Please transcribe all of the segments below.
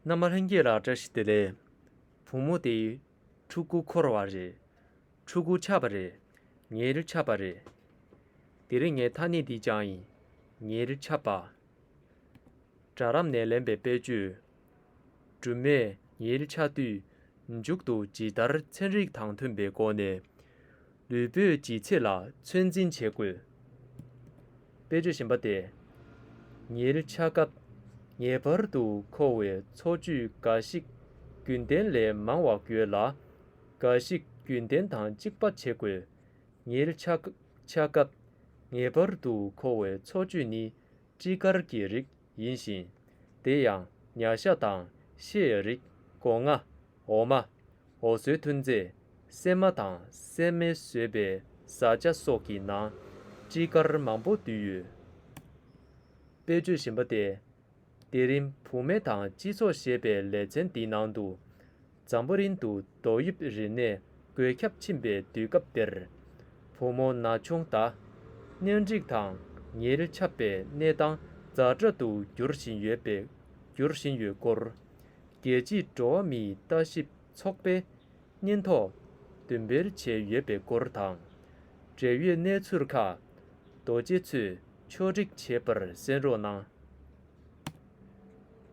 མནའ་མ་ལྷན་རྒྱས་ལ་བཀྲ་ཤིས་བདེ་ལེགས། བུ་མོ་དེ། ཕྲུ་གུ་འཁོར་བ་རེད། ཕྲུ་གུ་ཆགས་པ་རེད། ཉེར་ཆགས་པ་རེད། དེ་རིང་ངའི་ཐ་སྙད་འདི་སྦྱངས་ཡིན། ཉེར་ཆགས་པ། སྦྲ་རམས་ནས་ལེན་པའི་དཔེ་བརྗོད། སྦྲུམ་མས་ཉེར་ཆགས་དུས་མཇུག་ཏུ་ཇི་ལྟར་ཚན་རིག་དང་མཐུན་པའི་སྒོ་ནས། ལུས་པོའི་ལྗིད་ཚད་ལ་ཚོད་འཛིན་བྱེད་དགོས། དཔེར་བརྗོད་བཞིན་པ་སྟེ། ཉལ་འཆག་སྐབས་ངེས་པར་དུ་མཁོ་བའི་འཚོ་བཅུད་འགའ་ཞིག་རྒྱུན་ལྡན་ལས་མང་བ་དགོས་ལ། འགའ་ཞིག་རྒྱུན་ལྡན་དང་གཅིག་པ་བྱེད་དགོས། ཉལ་འཆག་སྐབས་ངེས་པར་དུ་མཁོ་བའི་འཚོ་བཅུད་ནི་སྤྲི་དཀར་གྱི་རིགས་ཡིན་ཞིང། དེ་ཡང་མྱ་ཤ་དང་ཤེ་ཡི་རིགས་སྒོ་ང། འོ་མ། འོ་ཟོའི་ཐུན་རྫས། སྲན་མ་དང་སྲན་མའི་ཟོས་པའི་བཟའ་བཅའ་སོགས་ཀྱི་ནང་སྤྲི་དཀར་མང་པོ་འདུས་ཡོད་པས་བརྗོད་བཞིན་པ་སྟེ། དེ་རིང་བུ་སྨད་དང་སྤྱི་ཚོགས་ཞེས་པའི་ལེ་ཚན་འདི་ནང་དུ། ཛམ་བོ་རིན་དུ་རྡོ་དབྱིབས་རི་ནས་འགོས་ཁྱབ་ཕྱིན་པའི་དུས་སྐབས་དེར། བུ་མོ་ན་ཆུང་དག་གཉེན་སྒྲིག་དང་ཉིལ་ཆབ་པའི་གནས་སྟངས་རྫ་བྲག་ཏུ་འགྱུར་བཞིན་ཡོད་པའི་འགྱུར་བཞིན་ཡོད་སྐོར། རྒྱལ་སྤྱིའི་འགྲོ་བ་མིའི་ལྟ་ཞིབ་ཚོགས་པས་སྙན་ཐོ་བདུན་སྤེལ་བྱས་ཡོད་པའི་སྐོར་དང། འབྲེལ་ཡོད་གནས་ཚུལ་ཁག་རྡོ་རྗེ་ཚུལ་མཆོག་སྒྲིག་བྱས་པར་གསན་རོགས་གནང།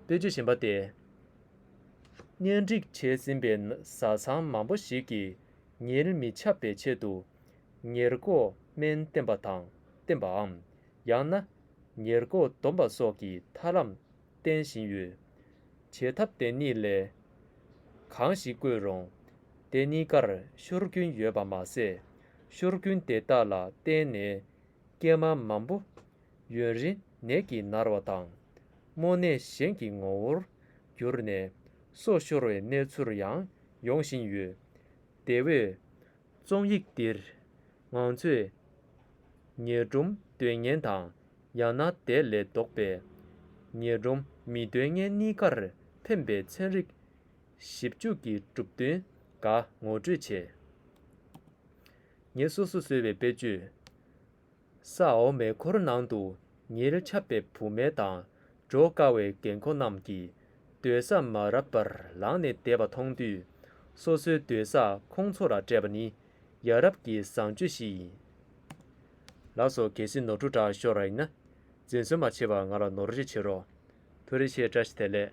པེ་ཅོ་ཞེན་པ་སྟེ། གཉེན་སྒྲིག་བྱས་ཟིན་པའི་བཟའ་ཚང་མང་པོ་ཞིག་གིས་ཉེར་མི་ཆབ་པའི་ཆེད་དུ་ཉེར་འགོག་སྨན་བསྟེན་པ་དང་བསྟེན་པའམ་ཡང་ན་ཉེར་འགོག་སྡོམ་པ་སོགས་ཀྱི་ཐར་ལམ་བསྟེན་བཞིན་ཡོད། བྱེད་ཐབས་དེ་གཉིས་ལས་གང་ཞིག་བཀོལ་རུང་དེ་གཉིས་ཀར་ཤོར་རྒྱུན་ཡོད་པ་མ་ཟད། ཤོར་རྒྱུན་དེ་དག་ལ་བརྟེན་ནས་སྐྱེད་མ་མང་པོ་ཡུན་རིང་ནད་ཀྱིས་མནར་བ་དང། རྨོངས་ནས་གཞན་གྱི་ངོ་བོར་གྱུར་ནས། སྲོག་ཤོར་བའི་གནས་ཚུལ་ཡང་ཡོང་བཞིན་ཡོད། དེ་བས། རྩོམ་ཡིག་འདིར་ང་ཚོས་ཉེར་སྒྲོམ་འདོད་ངན་དང་ཡང་ན་དེ་ལས་ལྡོག་པའི་ཉེར་སྒྲོམ་མི་འདོད་ངན་གཉིས་ཀར་ཐིམ་པའི་ཚན་རིག་ཞིབ་འཇུག་གི་གྲུབ་དོན་འགའ་ངོ་སྤྲོད་བྱས། ངས་སོ་སོ་བཟོས་པའི་དཔེ་བརྗོད། ས་འོག་མའི་འཁོར་ནང་དུ་ཉེར་ཁྱབ་པའི་བུད་མེད་དང་འགྲོ་དཀའ་བའི་རྒན་འཁོགས་རྣམས་ཀྱིས་སྡོད་ས་མ་རབས་པར་ལངས་ནས་བསྡད་པ་མཐོང་དུས། སོ་སོའི་སྡོད་ས་ཁོང་ཚོ་ལ་སྤྲད་པ་ནི་ཡ་རབས་ཀྱི་བཟང་སྤྱོད་ཞིག་ཡིན། ལ་སོ་གལ་སྲིད་ནོར་འཁྲུལ་དྲག་ཤོར་ར་ཡིན་ན། འཛིན་བཟོད་མ་བྱེད་པར་ང་ལ་ནོར་འཁྲུལ་བྱེད་རོགས། ཐུགས་རེ་ཆེ་བཀྲ་ཤིས་བདེ་ལེགས།